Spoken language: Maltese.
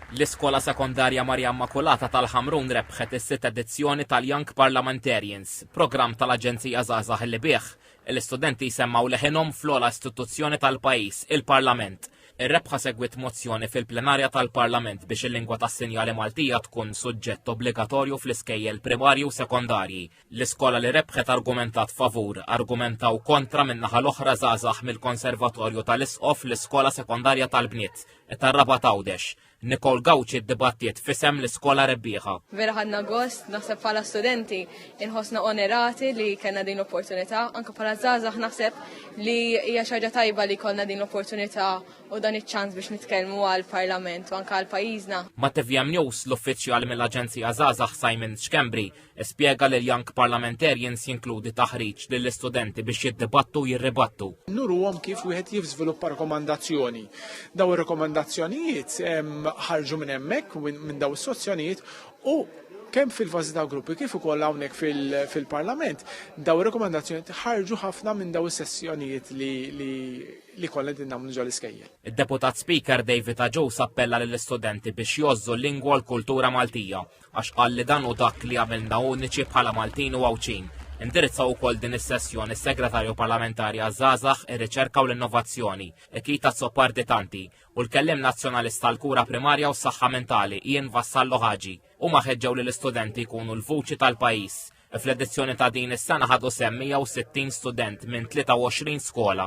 L-Iskola Sekondarja Marija Immakulata tal-Ħamrun rebħet is-sitt edizzjoni tal-Young Parliamentarians, programm tal-Aġenzija Żgħażagħ li bih, l-istudenti jsemmgħu leħinhom fl-ogħla istituzzjoni tal-pajjiż, il-Parlament. Ir-rebħa segwiet mozzjoni fil-plenarja tal-Parlament biex il-lingwa tas-sinjali Maltija tkun suġġett obbligatorju fl-iskejjel primarji u sekondarji. L-iskola li rebħet argumentat favur, argumentaw kontra min-naħa l-oħra żgħażagħ mill-Konservatorju tal-Isqof l-Iskola Sekondarja tal-Bniet tar-Rabat Għawdex. Nicole Gauci ddibattiet f'isem l-iskola rebbieħa. Vera ħadna gost, naħseb bħala studenti inħossna onerati li kellna din l-opportunità, anke bħala żgħażagħ naħseb li hija xi ħaġa tajba li jkollna din l-opportunità u dan iċ-ċans biex nitkellmu għall-Parlament u anke għal pajjiżna. Ma' TVM News l-uffiċjal mill-Aġenzija Żgħażagħ Simon Schembri Ispjega li l-Young Parliamentarians jinkludi taħriġ lill-istudenti biex jiddibattu u jirribattu. Nuruhom kif wieħed jiżviluppa rekomandazzjoni. Daw ir-rekomandazzjonijiet ħarġu minn hemmhekk minn daw is-sozzjonijiet u kemm fil-fażi ta' gruppi kif ukoll hawnhekk fil-Parlament, daw rekomendazzjoni ħarġu ħafna minn daw is-sessjonijiet li li kollha din nagħmlu ġol iskejjel. Id-Deputat Speaker David Aġus appella lill-istudenti biex jożżu l-lingwa u l-kultura Maltija għax qal li dan hu dak li jagħmilna uniċi bħala Maltin u Għawdxin. Indirizzaw ukoll din is-sessjoni s-Segretarju Parlamentari għaż-Żgħażagħ, ir-Riċerka u l-Innovazzjoni, Ichit Azzopardi Tanti, u l-Kelliem Nazzjonalist għall-Kura Primarja u s-Saħħa Mentali, Ian Vassallo Hagi. Huma ħeġġew lill-istudenti jkunu l-vuċi tal-pajjiż. Fl-edizzjoni ta' din is-sena ħadu sehem 160 student minn 23 skola.